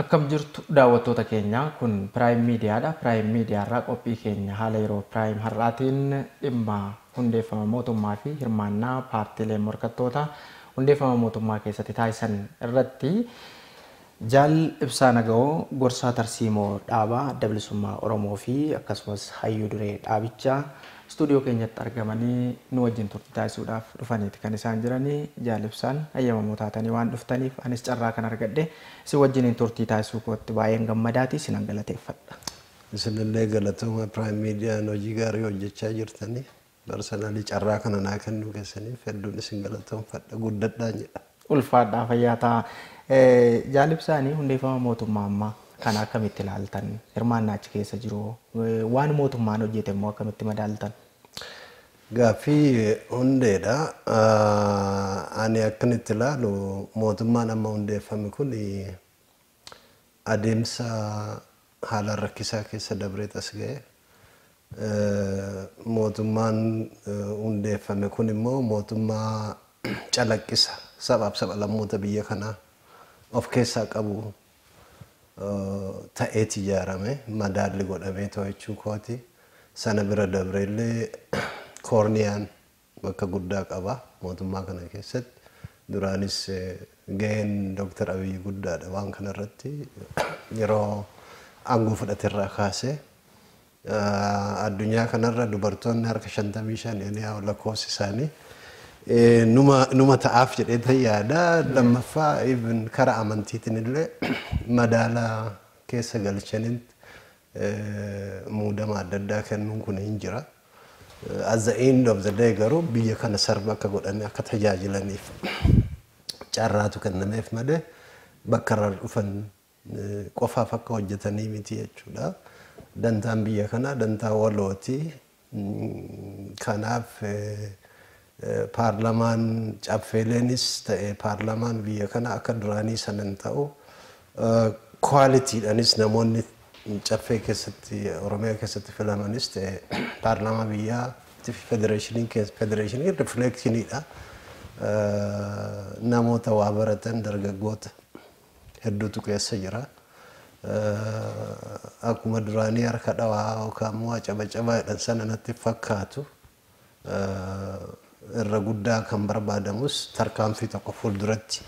Akkam jirtu daawwattoota keenya, kun Prime Media dha. Prime Media irraa qophii keenya haala yeroo Prime har'aatiin dhimma hundeeffama mootummaa fi hirmaannaa paartiileen morkattootaa hundeeffama mootummaa keessatti taasisan irratti Jaal Ibsaa Nagawoo gorsaa tarsiimoo dhaaba Adda Bilisummaa Oromoo fi akkasumas hayyuu duree dhaabichaa istuudiyoo keenyatti argamanii nu wajjin turtii taasisuudhaaf dhufaniiti kan isaan jiranii. Jaal Ibsaan hayyamamoo taatanii waan dhuftaniif anis carraa kan argadhe. Isin wajjiniin turtii taasisuu kootti baay'een gammadaati, isinan galateeffadha. Isinillee galatoomaa Prime Median hojii gaarii hojjechaa jirtani. Personally carraa kana naa kennuu keessaniif hedduun isin galatoomfadha. Guddadhaan jedha. Ulfaadhaa fayyaa ta'a. Jaal Ibsaani hundeeffama mootummaa ammaa kana akkamitti ilaaltan? Hirmaannaa achi keessa jiru hoo? Waan mootummaan hojjete immoo akkamitti madaaltan? Gaaffii hundeedha. Ani akkan itti ilaalu mootummaan amma hundeeffame kun adeemsa haalaan rakkisaa keessa dabreet as ga'e. Mootummaan hundeeffame kun immoo mootummaa calaqqisa sabaaf sab-lammoota biyya kanaa of keessaa qabu ta'eeti ijaarame. Madaalli godhamee to'achuu kooti. Sana bira dabree illee koorniyaan bakka guddaa qaba mootummaa kana keessatti. Duraanis gaheen Doktar Abiyyi guddaadha waan kanarratti yeroo aangoo fudhaterraa kaasee. Addunyaa kanarra dubartoonni harka 55 any how lakkoofsi isaanii numa numa ta'aaf jedhee tan yaada. Lammaffaa even kara amantiitiin illee madaala keessa galchaniin muudama adda addaa kennuun kun hin jira. At the end of the day garuu biyya kana sarba akka godhanii akka tajaajilaniif carraatu kennameef malee bakka irraa dhufan qofaaf akka hojjetanii miti jechuudha. Dantaan biyya kanaa dantaa walooti. Kanaaf paarlamaan caffeeleenis ta'e paarlamaan biyya kanaa akka duraanii sana hin ta'u. Kwaalitiidhanis namoonni caffee keessatti Oromiyaa keessatti filamanis ta'e paarlamaa biyyaatti fi federeeshiniin keessa federeeshiniin rifleekshiniidha. Namoota waa baratan dargaggoota. hedduutu keessa jira. Akkuma duraanii harka dhawaa yookaan waa cabacabaa jedhan sana natti hin fakkaatu. Irra guddaa kan barbaadamus tarkaanfii tokko fuulduratti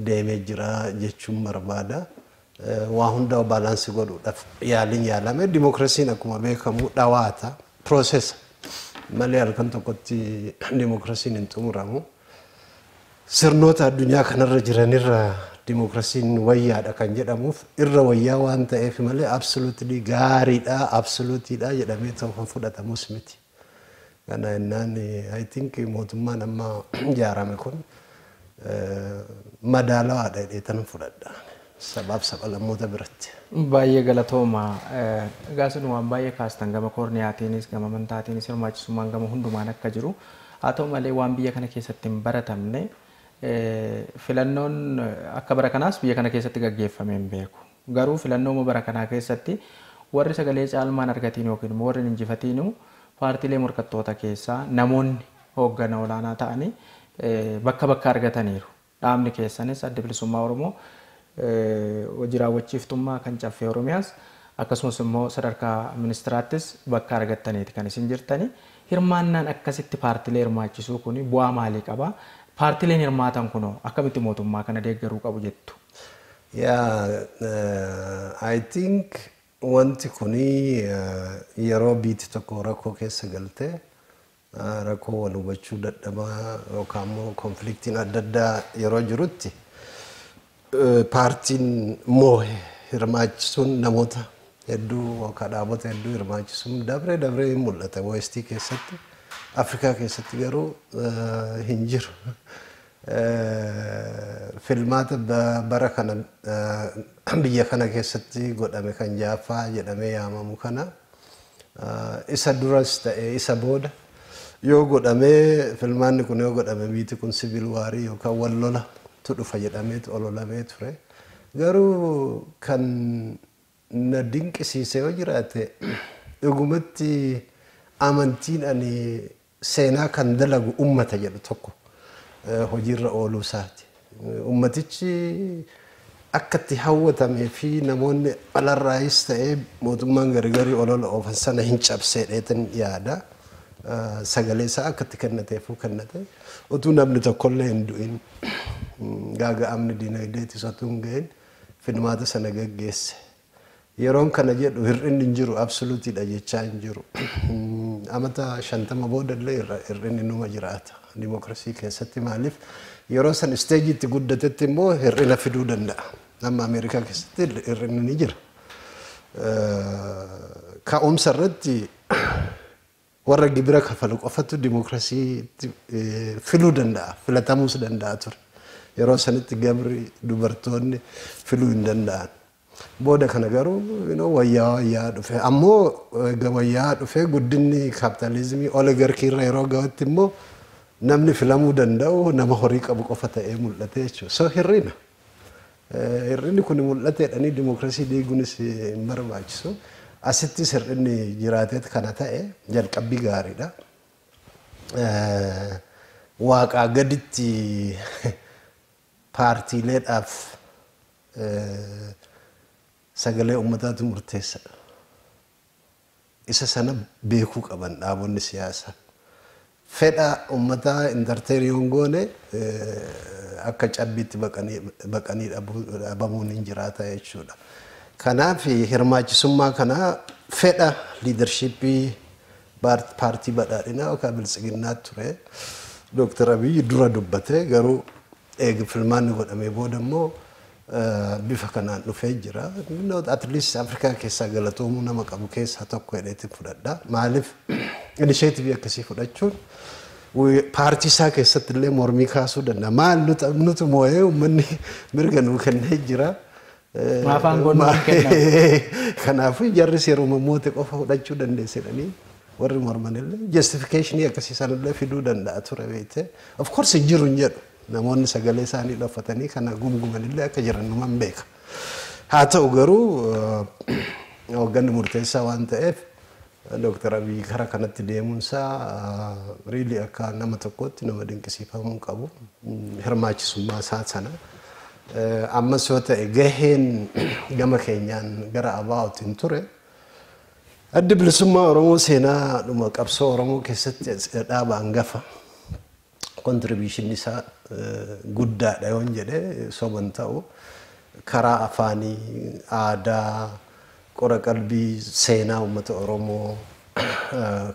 deemee jira jechuun barbaada. Waa hundaa baalaansi godhuudhaaf yaaliin yaalame dimookiraasiin akkuma beekamu dhawaata, piroosesa malee halkan tokkotti dimookiraasiin hin xumuramu. Sirnoota addunyaa kanarra jiranirra dimokirasiin wayyaadha kan jedhamuuf irra wayyaa waan ta'eef malee absolutely gaariidha, absolutiidha jedhamee ta'u kan fudhatamus miti. Kana innaan I think mootummaan amma ijaarame kun madaalawaadha jedheetanan fudhadha. sabaaf sabalammota biratti. Baay'ee galatooma. Egaa isin waan baay'ee kaastan gama koorniyaatiinis, gama amantaatiinis hirmaachisummaan gama hundumaan akka jiru. Haa ta'u malee waan biyya kana keessatti hin baratamne filannoon akka bara kanaas biyya kana keessatti gaggeeffamee hin beeku. Garuu filannooma bara kanaa keessatti warri sagalee caalmaan argatiin yookiin immoo warri hin injifatiinuu paartiilee morkattoota keessaa namoonni hooggana olaanaa ta'anii bakka bakka argataniiru. Dhaabni keessanis Addi Bilisummaa Oromoo hojii raawwachiiftummaa kan Caffee Oromiyaas akkasumas immoo sadarkaa ministiraattis bakka argattaniiti kan isin jirtani. Hirmaannaan akkasitti paartilee hirmaachisuu kuni bu'aa maalii qaba? Paartileen hirmaatan kunoo akkamitti mootummaa kana deeggaruu qabu jettu? Yeah, I think wanti kuni yeroo biiti tokko rakkoo keessa galte Rakkoo wal hubachuu dadhabaa yookaan immoo konfliktiin adda addaa yeroo jirutti paartiin moohe hirmaachisuun namoota hedduu yookaan dhaabota hedduu hirmaachisuun dabree dabree hin mul'ata. Weestii keessatti Afrikaa keessatti garuu hin jiru. Filmaata bara kana biyya kana keessatti godhame kan 6ffaa jedhamee yaamamu kana isa duras ta'e isa booda yoo godhame filmaanni kun yoo godhame biiti kun siviil waarii yookaan wal lola tu dhufa jedhameet ololamee ture. Garuu kan na dinqisiise yoo jiraate dhugumatti amantiin ani seenaa kan dalagu ummata jedhu tokko hojiirra ooluu isaati. Ummatichi akka itti hawwatamee fi namoonni alarraayis ta'ee mootummaan garigarii olola oofan sana hin cabseedheetin yaada. Sagalee isaa akka itti kennateefuu kennate. Utuu namni tokkollee hin du'in gaaga'amni diinagdeetis otuu hin gahin filmaata sana geggeesse. Yeroon kana jedhu hir'inni hin jiru, absolute dha jechaa hin jiru. Amata 50 booda illee hir'inni numa jiraata dimokiraasii keessatti maaliif yeroo san isteejii itti guddatetti immoo hir'ina fiduu danda'a. Amma Ameerikaa keessatti hir'inni ni jira. Ka'umsa irratti Warra gibira kafalu qofatu dimokirasiitti filuu danda'a, filatamuus danda'a ture. Yeroo sanitti gabri, dubartoonni filuu hin danda'an. Booda kana garuu you know, wayyaa'aa wayyaa'aa dhufe. Ammoo egaa wayyaa'aa dhufee guddinni kaapitaalizimii oligarkii irra yeroo ga'utti immoo namni filamuu danda'u nama horii qabu qofa ta'ee mul'ate jechuudha. So hir'ina. Hir'inni kun mul'ata jedhanii dimokirasii diiguunis hin barbaachisu. Asittis hir'inni jiraateet kana ta'e jalqabbii gaariidha. Waaqaa gaditti paartiileedhaaf sagalee uummataatu murteessadha. Isa sana beekuu qaban dhaabonni siyaasa. Fedha ummataa entertain yoo hin goone akka cabbiitti baqanii dhabamuun hin jiraata jechuudha. Kanaaf hirmaachisummaa kana fedha leadership paartii badhaadhinaa yookaan biltsiginnaatu ture. Doktar Abiy dura dubbate garuu Eega filmaanni godhamee booda immoo bifa kanaan dhufee jira. At least Afrikaa keessaa galatoomuu nama qabu keessaa tokko jedheetiin fudhadha. Maaliif inisheetivii akkasii fudhachuun paartii isaa keessatti illee mormii kaasuu danda'a. Maal nutu moo'ee uummanni mirga nuu kennee jira. Maaf aangoon nuu kenname? Kanaafuu jarris yeroo moote qofa fudhachuu dandeessedhanii. Warri morman illee justification akkasii sana illee fiduu danda'a ture beekte. Of course hin jiru hin jedhu. Namoonni sagalee isaanii dhoffatanii kana gumguman illee akka jiran numan beeka. Haa ta'u garuu eh, hoogganni murteessaa waan ta'eef Dooktar Abiy kara kanatti deemuunsaa riilii akka nama tokkootti nama dinqisiifamuu qabu Mm, hirmaachisummaa isaa sana. Eh, Ammas yoo ta'e gaheen gama keenyaan gara abaa'uutiin ture Addi Bilisummaa Oromoo seenaa dhuma qabsoo Oromoo keessatti dhaaba hangafa contribution isaa guddaadha yoon jedhe soba hin ta'u. Karaa afaanii, aadaa, qora qalbii seenaa uummata Oromoo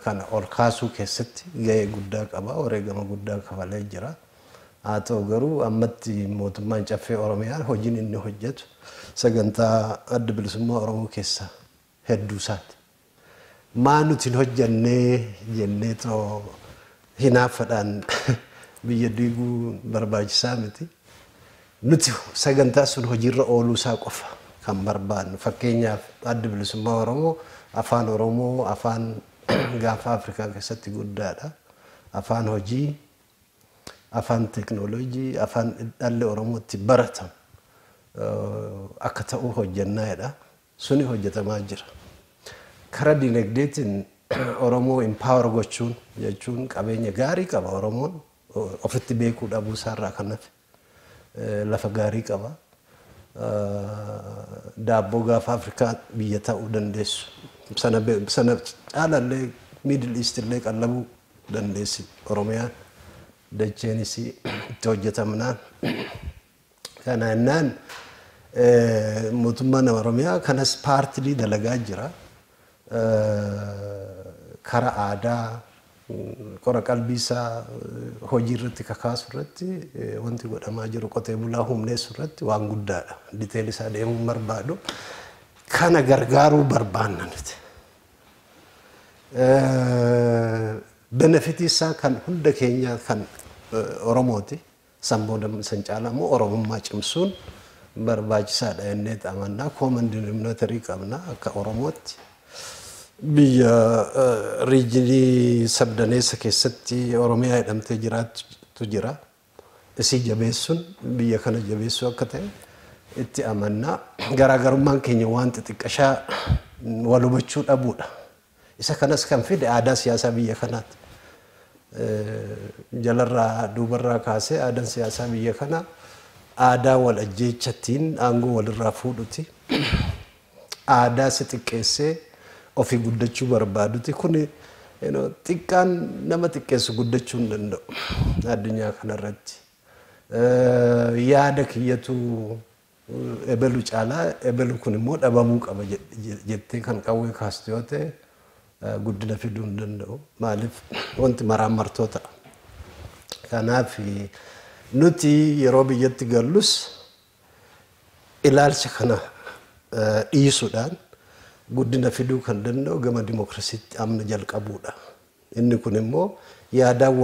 kana ol kaasuu keessatti gahee guddaa qaba. Wareegama guddaa kafalee jira. Haa ta'u garuu ammatti mootummaan Caffee Oromiyaa hojiin inni hojjetu sagantaa Adda Bilisummaa Oromoo keessa hedduu isaati. Maa nuti hin hojjennee jennee too hinaaffadhaan biyya diiguun barbaachisaa miti. Nuti sagantaa sun hojiirra ooluu isaa qofa kan barbaannu. Fakkeenyaaf Adda Bilisummaa Oromoo afaan Oromoo afaan gaanfa Afrikaa keessatti guddaadha. Afaan hojii Afaan teeknooloojii, afaan dhalli Oromoo itti baratan akka ta'u hojjennaa jedha. Suni hojjetamaa jira. Kara dinagdeetiin Oromoo empower gochuun jechuun qabeenya gaarii qaba Oromoon ofitti beekuu dhabuu isaarraa kan hafe. lafa gaarii qaba. Daabboo gaafa Afrikaa biyya ta'uu dandeessu. Sana caala illee Middle East illee qallabuu dandeessi Oromiyaan. Dacheen isii itti hojjetamnaan. Kana jennaan mootummaan Oromiyaa kanas paartilii dalagaa jira. kara aadaa qora qalbii isaa hojii irratti kakaasu irratti wanti godhamaa jiru qotee bulaa humneessu irratti waan guddaadha. Diteeli isaa deemuu hin barbaadu. Kana gargaaruu barbaanna nuti. Benefitii isaa kan hunda keenyaa kan Oromooti. San booda san caalaa immoo Oromummaa cimsuun barbaachisaa dha jenneet amanna. Common denominator qabna akka Oromootti. Biyya riijinii sabdaneessa keessatti Oromiyaa jedhamtee jiraattu jira. Isii jabeessuun biyya kana jabeessuu akka ta'e itti amanna. Garaagarummaan keenya waan xixiqqashaa wal hubachuu dhabuu dha. Isa kanas kan fide aadaa siyaasaa biyya kanaati. Jalarraa duubarraa kaasee aadaan siyaasaa biyya kanaa aadaa wal ajjeechatiin aangoo walirraa fuudhuti. Aadaa si xiqqeessee ofii guddachuu barbaaduti. Kuni you know, xiqqaan nama xiqqeessu guddachuu hin danda'u addunyaa kanarratti. Eh, Yaada kiyyatu ebelu caalaa ebelu kun immoo dhabamuu qaba jettee kan qawwee kaastu yoo ta'e guddina fiduu hin danda'u. Maaliif wanti maraammartoo ta'a. Kanaaf nuti yeroo biyyatti gallus ilaalcha kana dhiisuudhaan guddina fiduu kan danda'u gama dimokirasiitti amma jalqabuudha. Inni kun immoo yaadaan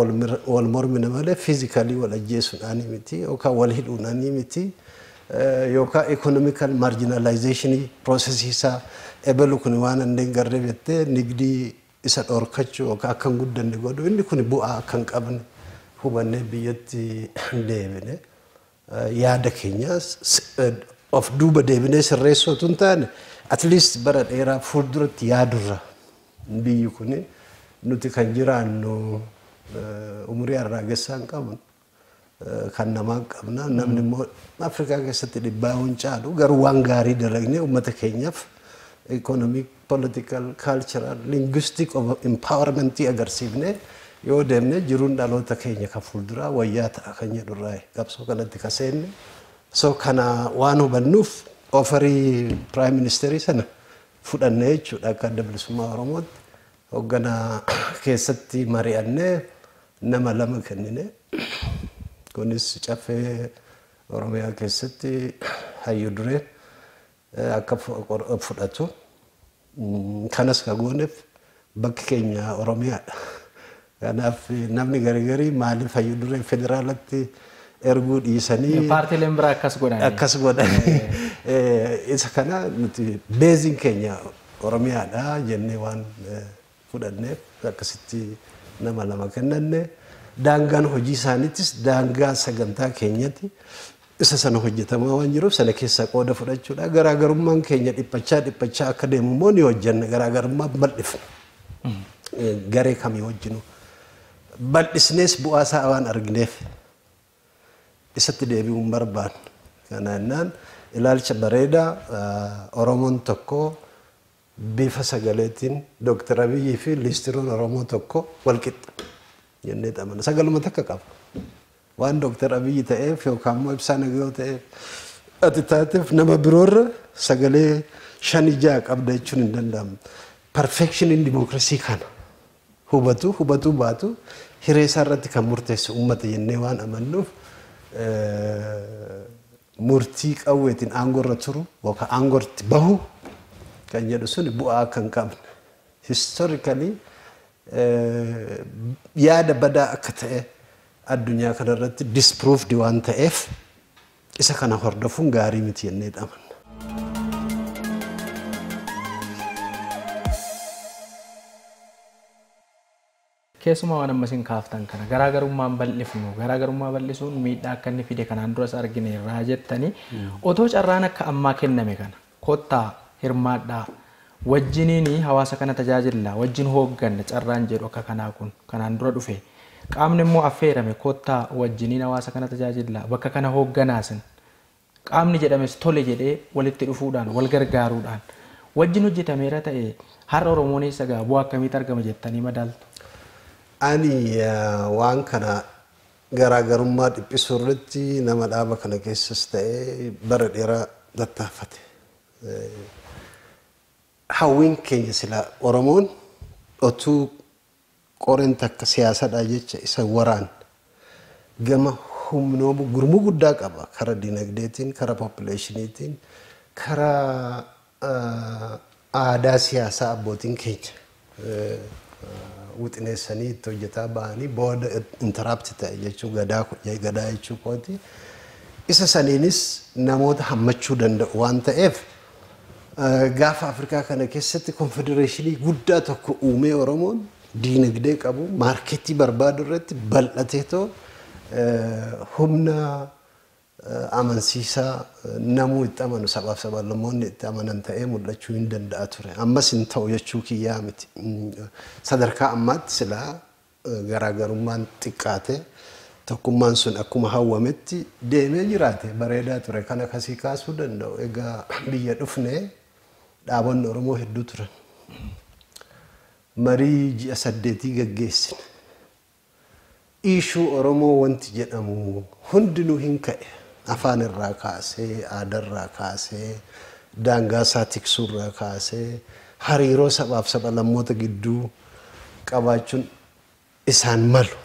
wal mormina malee physically wal ajjeesuudhaanii miti yookaan wal hidhuudhaanii miti yookaan economical marginalization process isaa ebelu kun waan inni hin garree jettee nigdii isa dhorkachuu yookaan akka hin guddanne godhu inni kun bu'aa akka hin qabne hubannee biyyatti deebine. yaada keenya of duuba deebinee sirreessuu utuu hin taane at least bara dheeraa fuulduratti yaadurra biyyi kun nuti kan jiraannu eh, umurii arraagessaa hin qabnu eh, kan namaa qabna namni immoo Afrikaa keessatti dhibbaa hin caalu garuu waan gaarii dalagnee uummata keenyaaf economic political, cultural, linguistic of empowerment agarsiifnee yoo deemne jiruun dhaloota keenya kan fuulduraa wayyaa ta'a kan jedhu irraa qabsoo kanatti ka seenne. So kana waan hubannuuf ofarii prime ministerii sana fudhanne jechuudha akka adda bilisummaa Oromootti. Hoogganaa keessatti mari'annee nama lama kennine. Kunis caffee Oromiyaa keessatti hayyu duree akka fudhatu kanas ka gooneef bakki keenya Oromiyaadha. Kanaaf namni gargarii maaliif hayyu duree federaalatti erguu dhiisanii Paartiileen biraa akkas godhan. akkas godhanii isa kana nuti beeziin keenya Oromiyaadha jennee waan fudhanneef akkasitti nama lama kennanne. Daangaan hojii isaaniitis daangaa sagantaa keenyatti isa sana hojjetamaa waan jiruuf sana keessaa qooda fudhachuudha. Garaagarummaan keenya dhiphachaa dhiphachaa akka deemu immoo ni hojjenna. Garaagarummaa bal'ifna. Garee kamii wajjinu bal'isnees bu'aa isaa waan argineef isatti deebi'uu hin barbaanne. Kana jennaan ilaalcha bareedaa Oromoon tokko Bifa sagaleetiin Dr. Abiyyii fi liistiroon Oromoo tokko, walqixxa, jenneet amanna. Sagaluma takka qaba. Waan Dr. Abiyyi ta'eef yookaan immoo Ibsaa Nagayoo ta'eef ati taateef nama biroorra sagalee shani ja'a qabda jechuun hin danda'amu. Perfekshiniin dimookirasii kana. Hubatuu hubatuu baatu hiree isaa irratti kan murteessu uummata jennee waan amannuuf murtii qawweetiin aangoo irra turu yookaan aangoo irratti bahu kan jedhu suni bu'aa akka hin qabne historically yaada badaa akka ta'e addunyaa kana irratti disproved waan ta'eef isa kana hordofuun gaarii miti jennee dhaman. Keessumaa waan amma isin kaaftan kana garaagarummaa hin bal'ifnu, garaagarummaa bal'isuun miidhaa akka inni fide kanaan duras argineerra jettanii otoo carraan akka ammaa kenname kana kottaa, hirmaadhaa, wajjiniin hawaasa kana tajaajilla, wajjin hoogganna carraan jedhu akka kanaa kun kanaan dura dhufe qaamni immoo affeerame kottaa wajjiniin hawaasa kana tajaajilla, bakka kana hoogganaa isin qaamni jedhames tole jedhee walitti dhufuudhaan, wal gargaaruudhaan wajjin hojjetameera ta'e har'a Oromoon eessa ga'a? Bu'aa akkamiitu argama jettanii madaaltu? Ani waan kana garaagarummaa dhiphisuu irratti nama dhaaba kana keessas ta'e bara dheeraa tattaafate. Hawwiin keenya silaa Oromoon otuu Qoren takka siyaasadha jecha isa waraan gama humnoomu gurmuu guddaa qaba kara dinagdeetiin kara populationiitiin kara aadaa siyaasaa abbootiin keenya wixineessanii itti hojjetaa bahanii booda interrupt ta'e jechuu gadaa gadaa jechuu kooti isa saniinis namoota hammachuu danda'u waan ta'eef Gaafa Afrikaa kana keessatti konfedereeshinii guddaa tokko uumee Oromoon diinagdee qabu maarkeetii barbaadu irratti bal'ateetoo humna amansiisaa namuu itti amanu sabaaf sablammoonni itti amanan ta'ee mul'achuu hin danda'a ture. Ammas hin ta'u jechuu kiyyaa miti. Sadarkaa ammaatti silaa garaagarummaan xiqqaate tokkummaan sun akkuma hawwametti deemee jiraate bareedaa ture kana kasii kaasuu danda'u egaa biyya dhufne dhaabonni oromoo hedduu turan marii ji'a saddeetii gaggeessine iishuu oromoo wanti jedhamu hundinuu hin ka'e afaan irraa kaasee aadaa irraa kaasee daangaa isaa tiksuu irraa kaasee hariiroo sabaaf saba lammoota gidduu qabaachuun isaan malu.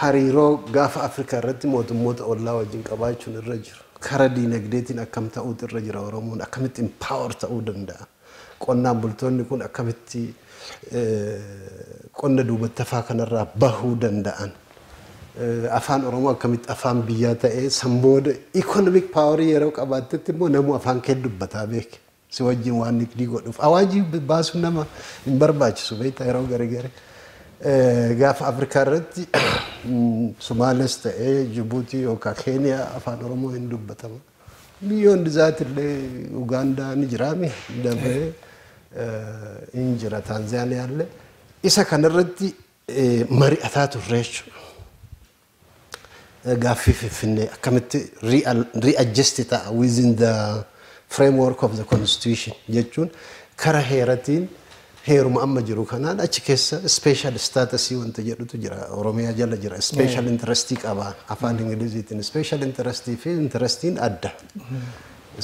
Hariiroo Gaafa Afrikaa irratti mootummoota ollaa wajjin qabaachuun irra jira. Kara diinagdeetiin akkam ta'uutu irra jira Oromoon? Akkamitti empower ta'uu danda'a? Qonnaan bultoonni kun akkamitti qonna duubattafaa kanarraa bahuu danda'an? Afaan Oromoo akkamitti afaan biyyaa ta'ee san booda economic power yeroo qabaattetti immoo namuu afaan kee dubbataa beeke. Si wajjin waan nikdii godhuuf awaajii baasuun nama hin barbaachisu beektaa yeroo garigari gaafa Afrikaa irratti Sumaales ta'ee Jibuutii yookaan Keeniyaa afaan Oromoo hin dubbatama. Biyyoon dizaati illee Ugaandaa ni jiraami dabree hin jira Taanzaaniyaa illee isa kanarratti mari'ataa turre jechuudha. Gaaffii Finfinnee akkamitti re-adjust ta'a within the framework of the constitution jechuun kara heeratiin heeruma amma jiru kanaan achi keessa special status wanta jedhutu jira Oromiyaa jala jira special interest qaba afaan Ingiliziitiin special interest fi interestiin adda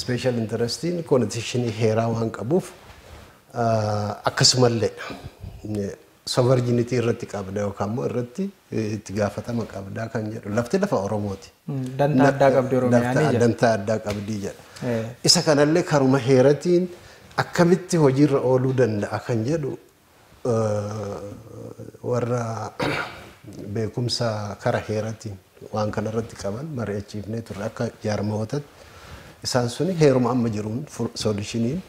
special interestiin constitution heeraa waan qabuuf akkasumallee sovereignity irratti qabda yookaan immoo irratti itti gaafatama qabda kan jedhu lafti lafa Oromooti. Dantaa addaa qabdi Oromiyaan Dantaa- jedha. Dantaa addaa qabdii jedha. Eh. Isa kanallee karuma heeratiin akkamitti hojiirra ooluu danda'a kan jedhu eh, warra beekumsa kara heeratiin waan kanarratti qaban mari'achiifnee turre akka jaarmayootatti isaan suni heeruma amma jiruun soolishiniin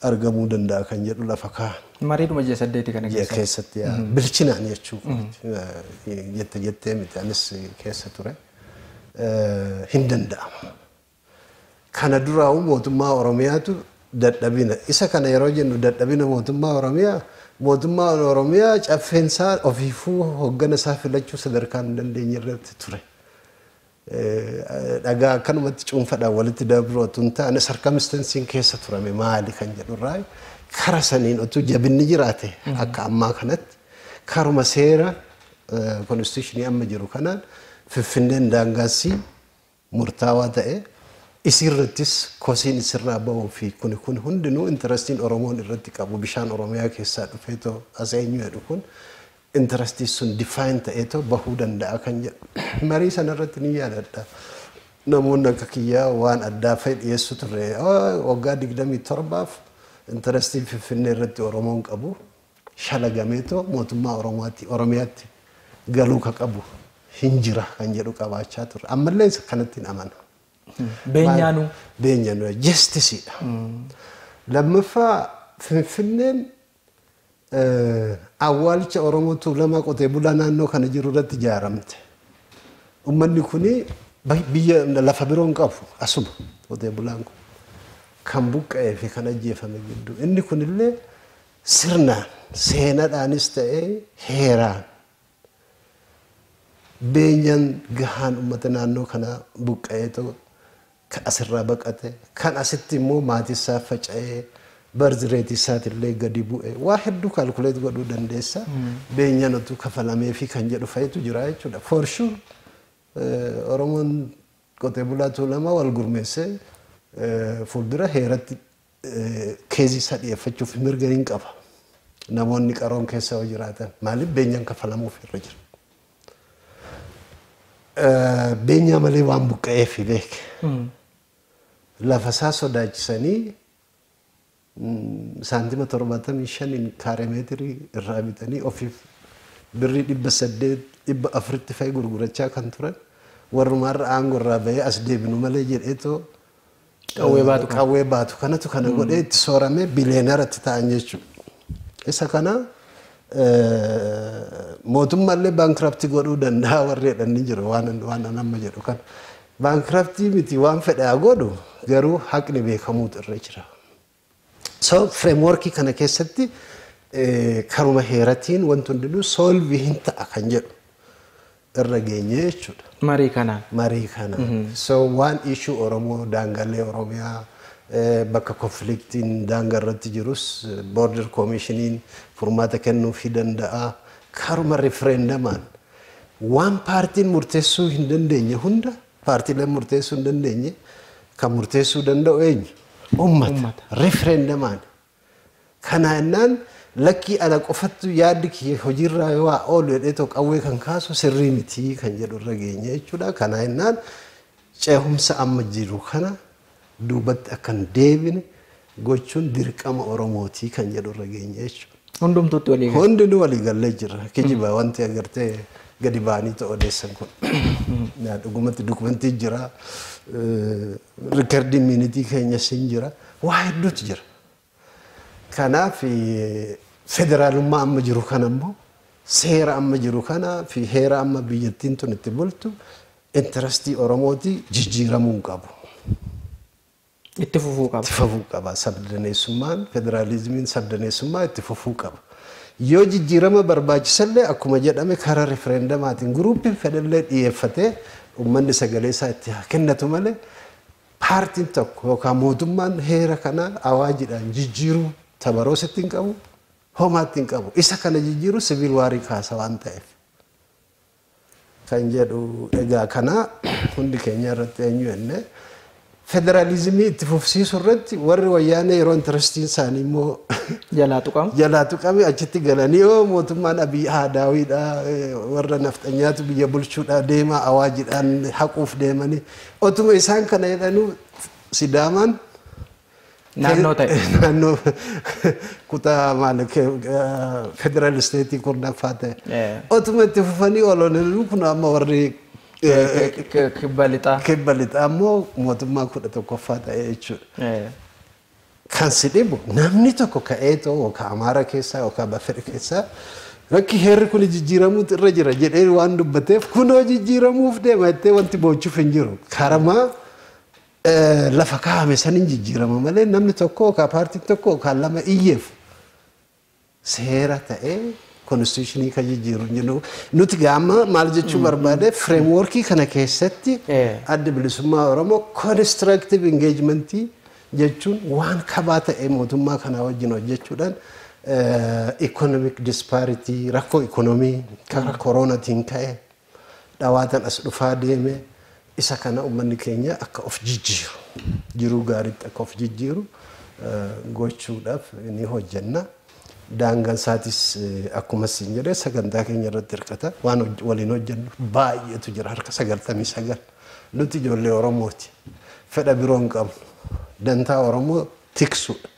argamuu danda'a kan jedhu lafa kaa'an. Mariidhuma ji'a saddeeti kana ji'a keessatti. keessatti yaa, bilchinaan jechuu kooti. Eh, jette jettee miti anis keessa ture Eh, hin danda'amu. Kana duraa'u mootummaa Oromiyaatu dadhabina. Isa kana yeroo jennu dadhabina mootummaa Oromiyaa mootummaan Oromiyaa caffeensaa ofiifuu hoggana isaa filachuu sadarkaa hin dandeenye irratti ture. Dhagaa akkanumatti cuunfadhaan walitti dabruu otuu hin taane sarkamistansiin keessa turame maali kan jedhu irraa kara saniin otuu jabinni jiraate akka ammaa kanatti karuma seera konstituushinii amma jiru kanaan Finfinneen daangaassii murtaawaa ta'e isiirrattis kosiin isirraa ba'uu fi kuni kun hundinuu intarastiin Oromoon irratti qabu bishaan Oromiyaa keessaa dhufee too as eenyu jedhu kun interests sun define ta'eetoo bahuu danda'a kan jedhu marii sana irratti ni yaadadha. Namoonni akka kiyyaa waan addaa fa'e dhiyeessu turre. Waggaa 27f interestii Finfinnee irratti Oromoon qabu shalagameetoo mootummaa Oromooti Oromiyaatti galuu ka qabu hin jira kan jedhu qabaachaa turre. Ammallee isa kanatti hin amana. Beenyaanuu. Beenyaanuu jestisiidha. Lammaffaa Finfinneen Awwaalicha Oromoo Tuulamaa qotee bulaa naannoo kana jiru irratti ijaaramte. Ummanni kun biyya lafa biroo hin qabu asuma qotee bulaan kun kan buqqa'ee fi kan ajjeefame gidduu. Inni kunillee sirnaan seenadhaanis ta'ee heeraan beenyaan gahaan ummata naannoo kanaa buqqa'eetoo Kan asirraa baqate, kan asitti immoo maatiisaaf faca'e, birth rate isaatillee gadi bu'e. Waa hedduu calculate godhuu dandeessa. Beenyaan utuu kafalameefii kan jedhu fa'itu jira jechuudha. For sure Oromoon qotee bulaa Tuulamaa wal gurmeessee fuuldura heeratti Keezii isaa dhiyeeffachuuf mirga nin qaba. Namoonni qaroon keessa yoo jiraatan maaliif beenyaan kaffalamuuf irra jira? Beenyaa malee waan buqqa'eef beek. Lafa isaa sodaachisanii saantima torbaatamii shaniin kaaree meetirii irraa bitanii ofiif birrii dhibba saddeet dhibba afuritti fa'i gurgurachaa kan turan warrumaarra aangoo irraa bahee as deebinu malee jedheetoo Qawwee baatu kana. qawwee baatu kanatu kana godhee itti sooramee biliyeenara itti ta'an jechuudha. Isa kana eh, mootummaallee baankraptii godhuu danda'a warri jedhan ni jiru waan waan an amma jedhu kana. Baankraptii miti waan fedhe haa godhu garuu haqni beekamuutu irra jira. So framework kana keessatti karuma heeratiin wanti hundinuu solve hin ta'a kan jedhu irra geenye jechuudha. Marii kanaan. Marii kanaan. So waan issue Oromoo daangalee Oromiyaa bakka konfliktiin daanga irratti jirus border komishiniin furmaata kennuufii danda'a. Karuma riferendamaan waan paartiin murteessuu hin dandeenye hunda Paartiileen murteessuu hin dandeenye kan murteessuu danda'u eenyu? Uummata. Uummata. Riferendamaan. Kana ennaan lakkii ana qofattu yaaddi kiyya hojiirraa yoo haa oolu jedhee too qawwee kan kaasu sirrii miti kan jedhu irra geenye jechuudha. Kana ennaan ceehumsa amma jiru kana duubatti akka hin deebine gochuun dirqama Oromootii kan jedhu irra geenye jechuudha. Hundumtuutti walii gala. Hundinuu walii gallee jirra. Kijiba wanti agartee gadi ba'anii ta'u odeessan kun. Naa Dhugumatti dokumentii jira. Rikardiin miinitii keenyas hin jira. Waa hedduutu jira. Kanaaf federaalummaa amma jiru kana immoo seera amma jiru kana fi heera amma biyyattiin tun itti bultu intarastii Oromooti jijjiiramuu hin qabu. Itti fufuu Itti qaba. fufuu qaba. Sabdaneessummaan, federaalizimiin sabdaneessummaa itti fufuu qaba. Yoo jijjiirama barbaachisallee akkuma jedhame karaa rifereendamaatiin guruupiin fedhallee dhiyeeffatee uummanni sagalee isaa itti haa kennatu malee Paartiin tokko yookaan mootummaan heera kana awaajidhaan jijjiiruu tabaroos itti hin qabu, homaa itti hin qabu. Isa kana jijjiiruun siviil waarii kaasa waan ta'eef. kan jedhu egaa kana hundi keenya irratti eenyu jenne federaalizimii itti fufsiisu irratti warri wayyaanee yeroo intarastiin isaanii immoo Jalaa tuqamu. jalaa tuqame achitti galanii yoo mootummaan abiy haadaawiidha eh, warra nafxanyaatu biyya bulchuudha deema awaajidhaan haquuf deemanii Otuma isaan kana jedhanuu Sidaamaan Naannoo ta'e. naannoo kutaa maal federaal isteetii kurnaffaa ta'e. Eh. Otuma itti fufanii ololanii kun amma warri eh, Kibba lixaa. kibba lixaa immoo mootummaa kudha tokkoffaa ta'e jechuudha. Eh, Kan si dhibu namni tokko ka'eetoo yookaan Amaara keessaa yookaan Bafir keessaa rakki heerri kun jijjiiramuutu irra jira jedhee waan dubbateef kunoo jijjiiramuuf deema jettee wanti boochuuf hin jiru. Karamaa eh, lafa kaa'ame saniin jijjiirama malee namni tokko yookaan paartiin tokko yookaan lama iyyeef seera ta'e konstituushinii kan jijjiiru hin jiru. Nuti gaa amma maal jechuu barbaade fireemwoorkii kana keessatti Eh. adda bilisummaa Oromoo konistiraaktiiv ingeejimentii jechuun waan kabaa ta'e mootummaa kanaa wajjin hojjechuudhaan ikoonomik dispaaritii rakkoo ikoonomii karaa kooroonaatiin ka'e dhawaatan as dhufaa deeme isa kana ummanni keenya akka of jijjiiru jiruu gaariitti akka of jijjiiru gochuudhaaf ni hojjenna. Daangaan isaatis akkuma isin jedhe sagantaa keenya irratti hirkata waan waliin hojjennu baay'eetu jira harka sagaltamii sagal nuti ijoollee Oromooti fedha biroo hin qabnu dantaa Oromoo tiksuudha.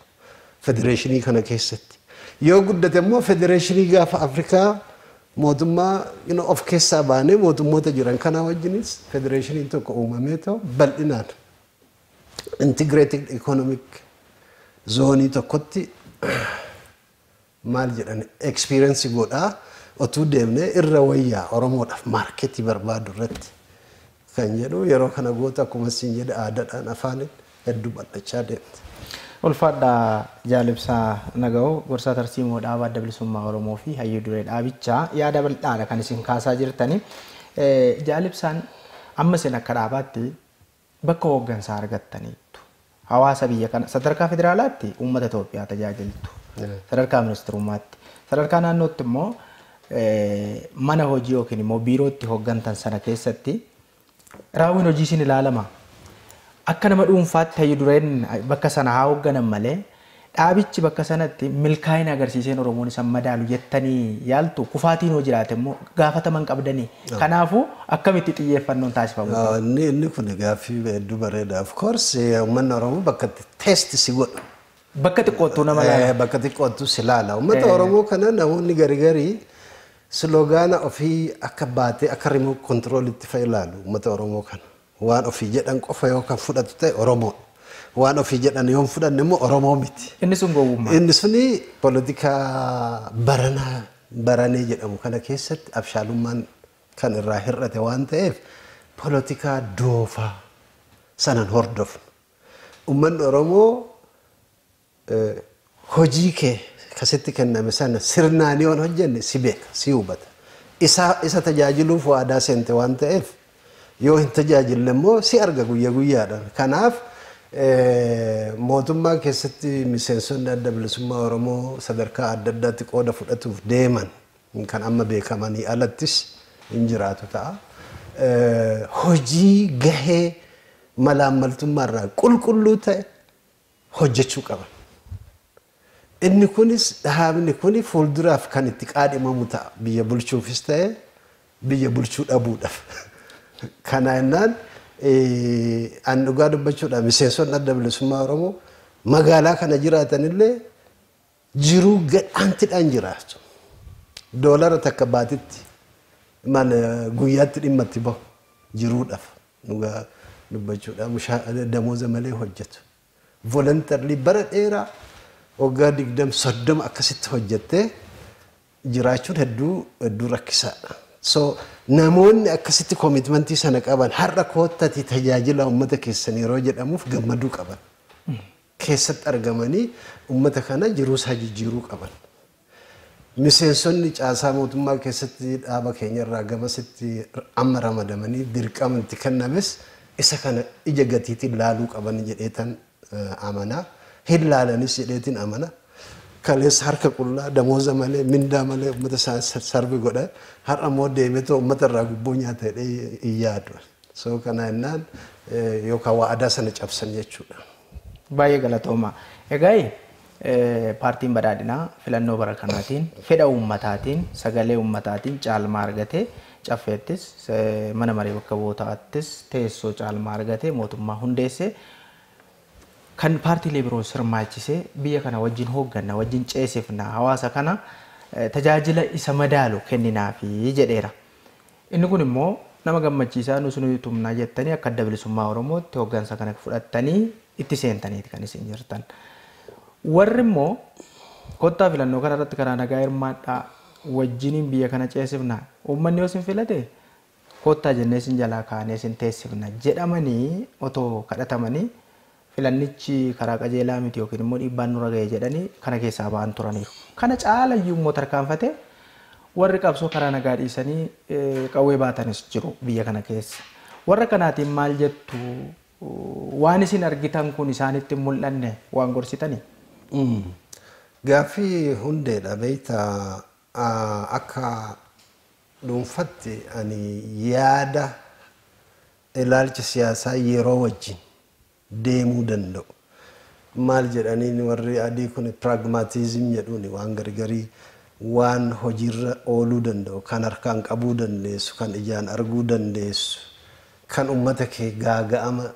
federeeshinii kana keessatti. Yoo guddate immoo federeeshinii gaafa Afrikaa mootummaa you know, of keessaa baanee mootummoota jiran kanaa wajjinis federeeshiniin tokko uumamee too bal'inaan integrated economic zoonii tokkotti maal jedhan experience godha otuu deemne irra wayya oromoodhaf market barbaadu irratti kan jedhu yeroo kana gootu akkuma siin jedhe aadadhaan afaanin heddu bal'achaa deemte. Ulfaadha Jaal Ibsaa Nagawoo, Gorsaa Tarsiimoo Dhaaba Adda Bilisummaa Oromoo fi Hayyuu Duree Dhaabichaa. Yaada bal'aadha kan isin kaasaa jirtani. Jaal Ibsaan amma isin akka dhaabaatti Bakka hooggansaa argattaniittu. Hawaasa biyya kana sadarkaa federaalaatti uummata Itoophiyaa tajaajiltu. Sadarkaa ministirummaatti. Sadarkaa naannootti immoo mana hojii yookiin immoo biirootti hooggantan sana keessatti raawwiin hojii isin ilaalama. Akka nama dhuunfaatti hayyu dureen bakka sana haa hoogganan malee Dhaabichi bakka sanatti milkaa'ina agarsiiseen Oromoon isa hin madaalu jettanii yaaltuu? Kufaatiin yoo jiraate immoo gaafatama hin qabdanii? Kanaafuu akkamitti xiyyeeffannoon taasifamuu qaba? Yoo inni inni kun gaaffii hedduu bareeda. Of course uummanni Oromoo bakka itti test si godhu. Bakka xiqqoottuu nama Eh, laala. bakka xiqqoottu si laala. Uummata Oromoo kana namoonni gari gari slogaana ofii akka baatee akka remote control itti fa'i ilaalu uummata Oromoo kana. Waan ofii jedhan qofa yoo kan fudhatu ta'e Oromoodha. Waan ofii jedhan yoo hin fudhanne immoo Oromoo miti. Inni sun gowwummaa. Inni suni politikaa baranaa baranee jedhamu kana keessatti abshaalummaan kan irraa hir'ate waan ta'eef politikaa doofaa sana hin hordofnu. Ummanni Oromoo Hojii kee ka sitti kenname sana sirnaan yoo hin hojjenne si beeka, si hubata. Isa, isa tajaajiluuf waadaa seente waan ta'eef, yoo hin tajaajille immoo si arga guyya guyyaadhaan. Kanaaf, mootummaa keessatti miseensonni Adda Bilisummaa Oromoo sadarkaa adda addaatti qooda fudhatuuf deeman kan amma beekamanii alattis hin jiraatu ta'a. Hojii gahee malaammaltummaa irraa qulqulluu ta'e hojjechuu qaban. Inni kunis dhaabni kun fuulduraaf kan itti qaadhimamu ta'a. Biyya bulchuufis ta'e biyya bulchuu dhabuudhaaf. Kana jennaan an dhugaa dubbachuudhaan miseensonni adda bilisummaa Oromoo magaalaa kana jiraatanillee Jiruu gadhaantidhaan jiraachu. Doolara takka baatitti maal guyyaatti dhimma itti bahu jiruudhaf dhugaa dubbachuudhaa mushaa damooza malee hojjetu. Voluntarily bara dheeraa waggaa digdam soddoma akkasitti hojjettee jiraachuun hedduu hedduu rakkisaadha. So namoonni akkasitti commitment sana qaban har'a koottati tajaajila uummata keessan yeroo jedhamuuf gammaduu qaban. keessatti argamanii ummata kana jiruusaa jijjiiruu qaban. Miseensonni caasaa mootummaa keessatti dhaaba keenyarraa gamasitti amma ramadamanii dirqama itti kennames isa kana ija gatiitiin laaluu qaban jedheetan amana. Hin laalanis jedheetin amana. Kaleessa harka qullaa, damooza malee, mindaa malee ummata isaanii sarve godha. Har'ammoo deebi'eetoo ummatarraa gubboo nyaata jedhee hin yaadu ani. So kana jennaan yookaan wa'adaa sana cabsan jechuudha. Baay'ee galatoomaa. Egaa paartiin badhaadhinaa filannoo bara kanaatiin fedha uummataatiin sagalee uummataatiin caalmaa argate caffeettis mana maree bakka bu'ootaattis teessoo caalmaa argate mootummaa hundeesse kan paartiilee biroo sirmaachisee biyya kana wajjin hoogganna wajjin ceesifna hawaasa kana tajaajila isa madaalu kenninaafi jedheera. Inni kun immoo nama gammachiisaa nus ni tumna jettanii akka Adda Bilisummaa Oromootti hoggansa kana fudhattanii itti seentaniiti kan isin jirtan. Warri immoo kottaa filannoo kana irratti karaa nagaa hirmaadhaa wajjiniin biyya kana ceesifna uummanni yoo isin filate kottaa jennee isin jalaa kaanee isin teessifna jedhamanii otoo kadhatamanii Filannichi karaa qajeelaa miti ykn immoo dhiibbaan nurra gahe jedhanii kana keessaa ba'an turaniiru. Kana caalayyuu immoo tarkaanfatee warri qabsoo karaa nagaa dhiisanii qawwee baatanis jiru biyya kana keessa. Warra kanaatiin maal jettu? Waan isin argitan kun isaanitti hin mul'anne waan gorsitanii? Gaaffii hundeedha beektaa akka dhuunfatti ani yaada Ilaalchi siyaasaa yeroo wajjin deemuu danda'u. Maal jedhaniin warri adii kuni pragmatism jedhuuni waan garigarii waan hojiirra ooluu danda'u kan harkaan qabuu dandeessu kan ijaan arguu dandeessu kan ummata kee gaaga'ama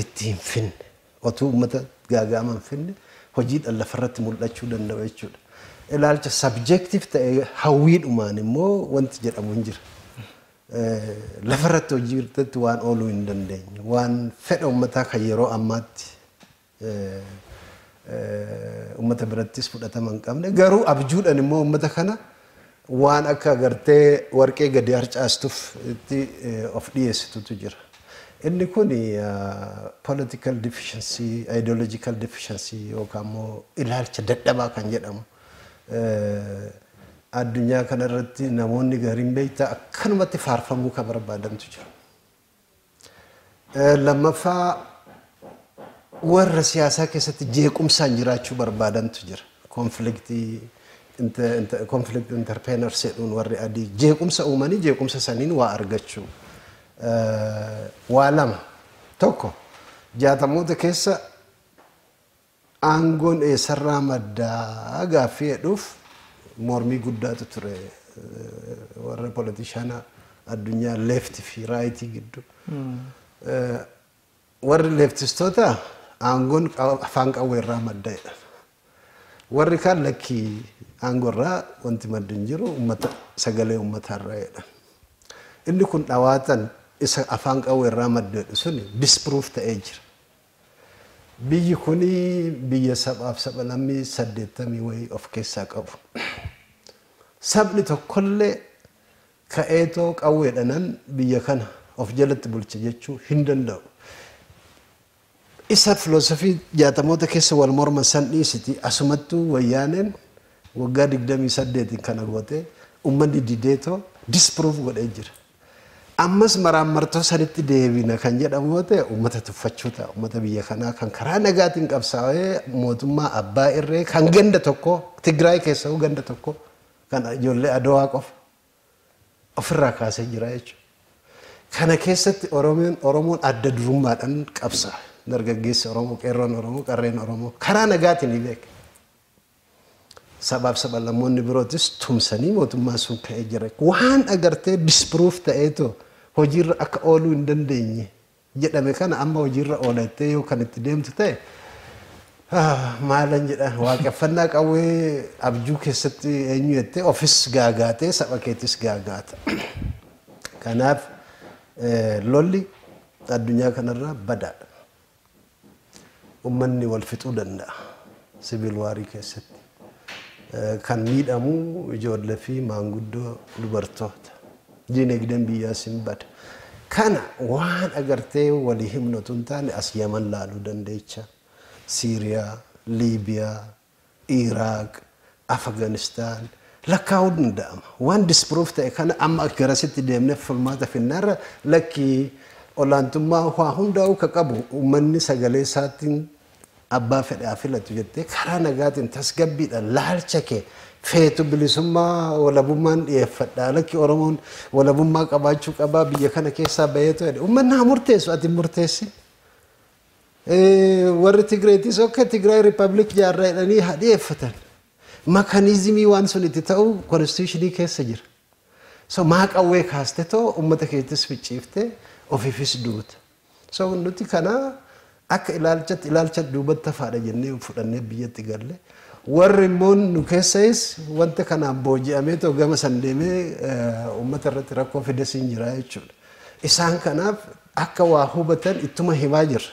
itti hin finne otuu ummata gaaga'ama hin finne hojiidhan lafarratti mul'achuu danda'u jechuudha. Ilaalcha subjective ta'e hawwiidhumaan immoo wanti jedhamu hin jira. lafarratti hojii irratti waan ooluu hin dandeenye waan fedha ummataa kan yeroo ammaatti ummata birattis fudhatama hin qabne garuu abjuudhaan immoo ummata kana waan akka agartee warqee gadi harcaastuuf itti of dhiyeessitutu jira. Inni kun political deficiency, ideological deficiency yookaan immoo ilaalcha dadhabaa kan jedhamu. Addunyaa kana irratti namoonni gariin beektaa akkanumatti faarfamuu kan barbaadantu jiru. Lammaffaa warra siyaasaa keessatti jeequmsaan jiraachuu barbaadantu jira. Konfliktii konflikt interpeenar jedhuun warri adii jeequmsa uumanii jeequmsa saniin waa argachuu. Waa lama tokko jaatamoota keessa Aangoon eessarraa madda gaaffii jedhuuf mormii guddaatu ture warra politishana addunyaa left fi right giddu. Warri leftistoota aangoon afaan qawweerraa madda jedhan. Warri kaan lakkii aangorraa wanti maddi hin jiru ummata sagalee ummataarraa jedhan. Inni kun dhawaatan isa afaan qawweerraa madda jedhu suni disproof ta'ee jira. Biyyi kun biyya sabaaf sabalammii saddeettamii wayii of keessaa qabu. Sabni tokkollee ka'eetoo qawweedhanan biyya kana of jalatti bulcha jechuu hin danda'u. Isa filosofii jaatamoota keessa wal morman san dhiisiti asumattuu wayyaaneen waggaa digdamii saddeetiin kana gootee ummanni dideetoo disprove godhee jira. Ammas maraammartoo sanitti deebina kan jedhamu yoo ta'e uummata tuffachuu ta'a. Uummata biyya kanaa kan karaa nagaatiin qabsaawee mootummaa abbaa irree kan ganda tokkoo Tigraay keessawuu ganda tokkoo kan ijoollee Adowaa qofa ofirraa kaasee jira jechuudha. Kana keessatti Oromoon Oromoon adda durummaadhaan qabsaawe. Dargaggeessi Oromoo, qeerroon Oromoo, qarreen Oromoo karaa nagaatiin beeke. Sabaaf sabalammoonni birootis tumsanii mootummaan sun ka'ee jira. Waan agartee disprove ta'eetoo hojiirra akka ooluu hin dandeenye jedhame kana amma hojiirra oola jettee yoo kan itti deemtu ta'e maalan jedha waaqeffannaa qawwee abjuu keessatti eenyu jettee ofis gaagaatee saba keetis gaagaata. Kanaaf lolli addunyaa kanarraa badaadha. Ummanni wal fixuu danda'a. Civil war keessatti kan miidhamu ijoollee fi maanguddoo dubartoota. Diinagdeen biyyaas hin bada. Kana waan agartee walii himnu utuu hin taane as Yaman laaluu dandeecha. Siiriyaa, Liibiyaa, Iraaq, Afghanistan lakkaa'uun ni danda'ama. Waan disprove ta'e kana amma garasitti deemnee furmaata finnaa irra lakki olaantummaa waa hundaa'uu ka qabu uummanni sagalee isaatiin abbaa fedhe haa filatu jettee karaa nagaatiin tasgabbiidhaan laalcha kee feetu bilisummaa walabummaan dhiyeeffadha lakki Oromoon walabummaa qabaachuu qabaa biyya kana keessaa baheetu jedhe uummanni haa murteessu ati hin murteessin. Warri Tigreetis ok Tigraay Rippabilik jaarra jedhanii haa dhiyeeffatan. Makaniizimii waan sun itti ta'u konstituushinii keessa jira. So maa qawwee kaaste too uummata keettis ficciifte ofiifis duuta. So nuti kana akka ilaalchatti ilaalcha duubatti hafaadha jennee fudhannee biyyatti galle. Warri immoo nu keessayis wanta kanaan booji'amee too gama san deemee uummata irratti rakkoo fides hin jira jechuudha. Isaan kanaaf Akka waa hubatan ittuma himaa jirra.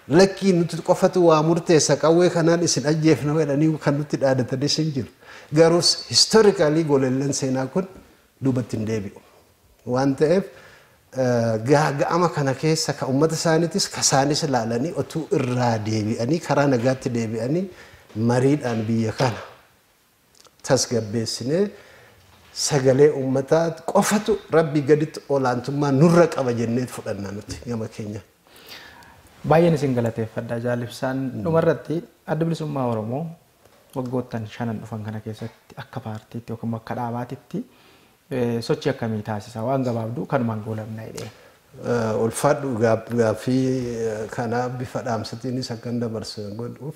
Lakkii nuti qofatu waa murteessa qawwee kanaan isin ajjeefna jedhanii kan nutti dhaadatanis hin jiru. Garuu historically golelleen seenaa kun duubatti hin deebi'u. Waan ta'eef gaaga'ama kana keessa ka ummata isaaniitis ka isaanis ilaalanii otuu irraa deebi'anii karaa nagaatti deebi'anii mariidhaan biyya kana tasgabbeessinee sagalee uummataa qofatu Rabbii gaditti olaantummaa nurra qaba jenneet fudhanna nuti gama keenyaan. Baay'een isin galateeffadha Jaal Ibsaan. Dhumarratti Addi Bilisummaa Oromoo waggoottan shanan dhufan kana keessatti akka paartiitti yookiin immoo akka dhaabaatitti sochii akkamii taasisa? Waan gabaabduu kanumaan goolabna jedhee. Ulfaadhu gaaffii kana bifa dhaamsatiinis akkan dabarsu godhuuf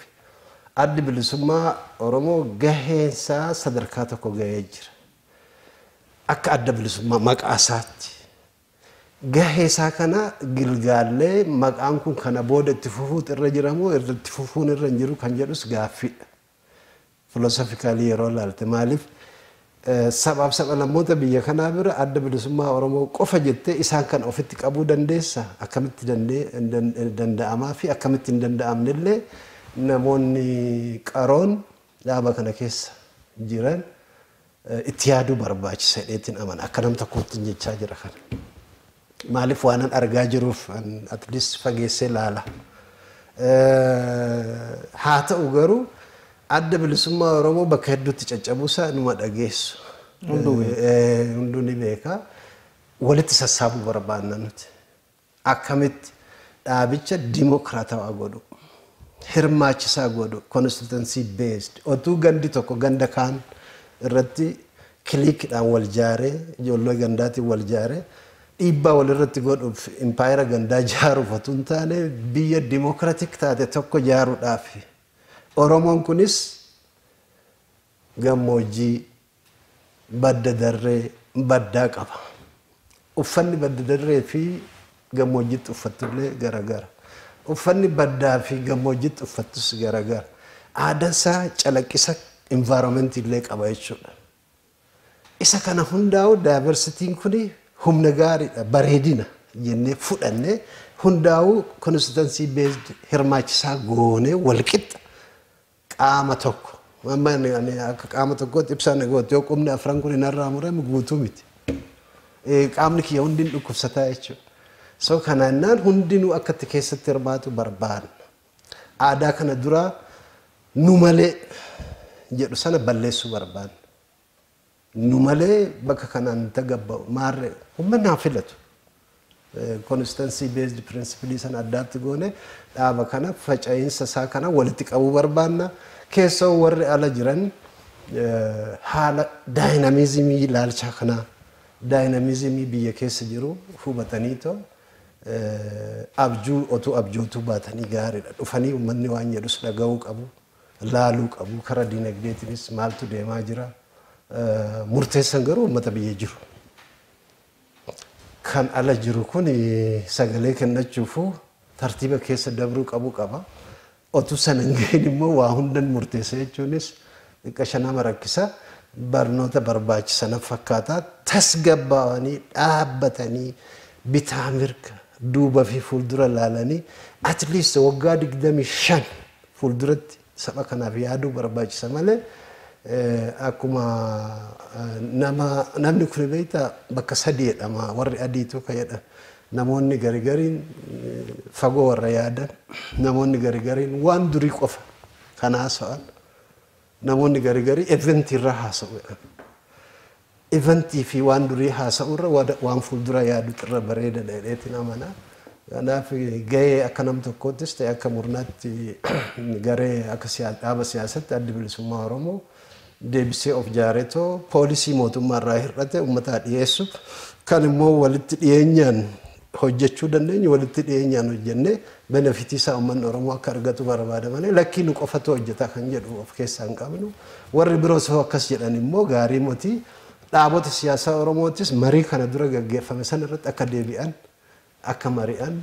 addi bilisummaa Oromoo gaheensaa sadarkaa tokko gahee jira. Akka adda bilisummaa maqaa isaatti gahee isaa kana gilgaallee maqaan kun kana booda itti fufuutu irra jiramoo irratti fufuun irra hin jiru kan jedhus gaaffiidha. philosophically yeroo ilaalte maaliif sabaaf sablammoota biyya kanaa bira adda bilisummaa Oromoo qofa jettee isaan kan ofitti qabuu dandeessa akkamitti danda'amaa fi akkamitti hin danda'amne illee namoonni qaroon dhaaba kana keessa jiran itti yaaduu barbaachisa jedheetiin amana akka nam tokkoottiin jechaa jira kana. Maalif waanan argaa jiruuf at least fageessee laala. Haa ta'u garuu adda bilisummaa Oromoo bakka hedduutti caccabuusaa inuma dhageessu. Hunduu ni beeka. Walitti sassaabuu barbaanna nuti. Akkamitti dhaabicha dimokiraatawaa godhu. hirmaachisaa godhu, constituency based, otuu gandi tokko ganda kaan irratti clique dhaan wal jaaree, ijoollee gandaatiin wal jaaree dhiibbaa wal irratti godhuuf impaayera gandaa jaaruuf otuu hin taane biyya democratic taate tokko jaaruudhaafi. Oromoon kunis gammoojjii. Badda darree, baddaa qaba. Uffanni badda darree fi gammoojjitti uffattu illee gara gara. Uffanni baddaa fi gammoojjitti uffattus gara gara. Aadaan isaa calaqqisa environment illee qaba jechuudha. Isa kana hundaa'u diversity-n kun humna gaariidha, bareedina jennee fudhannee hundaa'u constituency based hirmaachisaa goonee walqixxa qaama tokko amma ani ani akka qaama tokkootti ibsaa na goote yoo qubni afran kun narraa murame guutuu miti. Eh, Qaamni kiyya hundi hin dhukkubsataa jechuudha. So kanaannaan hundinuu akka itti keessatti hirmaatu barbaanna. Aadaa kana duraa nu malee jedhu sana balleessuu barbaanna. Nu malee bakka kanaan hin tagabba'u. Maarree, ummanni haa filatu. Constancy based principle sana addaatti goone dhaaba kana faca'iinsa isaa kana walitti qabuu barbaanna. Keessoo warri ala jiran haala daayinamizimii ilaalchaa kanaa daayinamizimii biyya keessa jiru hubatanii too abjuu otuu abjootuu baatanii gaariidha. Dhufanii ummanni waan jedhus dhaga'uu qabu. laaluu qabu. Kara dinagdeetinis maaltu deemaa jira? Murteessan garuu uummata biyya jiru. Kan ala jiru kun sagalee kennachuufuu tartiiba keessa dabruu qabu qaba. Otuu sana hin gahin immoo waa hundan murteessa jechuunis xiqqasha nama rakkisa. Barnoota barbaachisa na fakkaata. Tasgabbaawanii dhaabbatanii bitaa mirga duuba fi fuuldura laalanii at least waggaa 25 Fuulduratti saba kanaaf yaaduu barbaachisa malee akkuma nama namni kuni beektaa bakka sadii jedhama warri adiitu ka jedhan namoonni gari gariin fagoo warra yaadan namoonni gari gariin waan durii qofa kan haasa'an namoonni gari garii eventii irraa haasa'u jedhan. Event fi waan durii haasa'uu irra wada- waan fuuldura yaadutu irra bareedadha jedheetiin amana. Kanaaf gahee akka nam tokkoottis ta'e akka murnaatti garee akka siyaa- dhaaba siyaasatti addi bilisummaa Oromoo deebisee of jaaretoo poolisii mootummaa irraa hir'ate uummataa dhiyeessuuf kan immoo walitti dhiyeenyaan hojjechuu dandeenyu walitti dhiyeenyaan hojjennee benefit isaa uummanni Oromoo akka argatu barbaada malee lakkii nu qofatu hojjeta kan jedhu of keessaa hin qabnu. Warri biroos hoo akkas jedhan immoo gaarii moti. Dhaabota siyaasaa Oromootis marii kana dura gaggeeffame sana irratti akka deebi'an, akka mari'an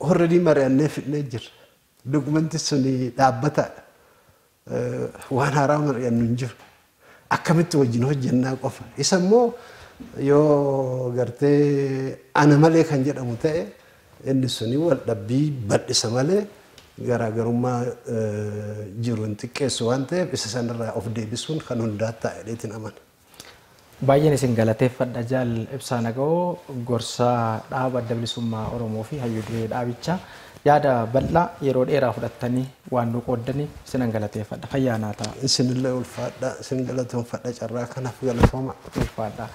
already mari'annee fidnee jirra. Document suni dhaabbataadha. Waan haaraa mari'annu hin jiru. Akkamitti wajjin hojjennaa qofa. Isa immoo yoo gartee ana malee kan jedhamu ta'e inni suni wal dhabbii bal'isa malee garaagarummaa jiru hin xiqqeessu waan ta'eef isa sanarraa of deebisuun kan hundaa ta'a jedheetiin amana. Baay'een isin galateeffadha Jaal Ibsaa Nagawoo, gorsaa dhaaba Adda Bilisummaa Oromoo fi Hayyu Duree dhaabichaa. Yaada bal'aa yeroo dheeraa fudhattanii waan nu qooddaniif isinan galateeffadha. Fayyaa naa ta'a. Isinillee ulfaadhaa. Isin galatoomfadha carraa kanaaf galatooma. Ulfaadhaa.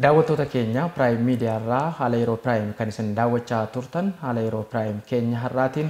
Daawwattoota keenya Prime Media irraa haala yeroo Prime kan isin daawwachaa turtan haala yeroo Prime keenya har'aatiin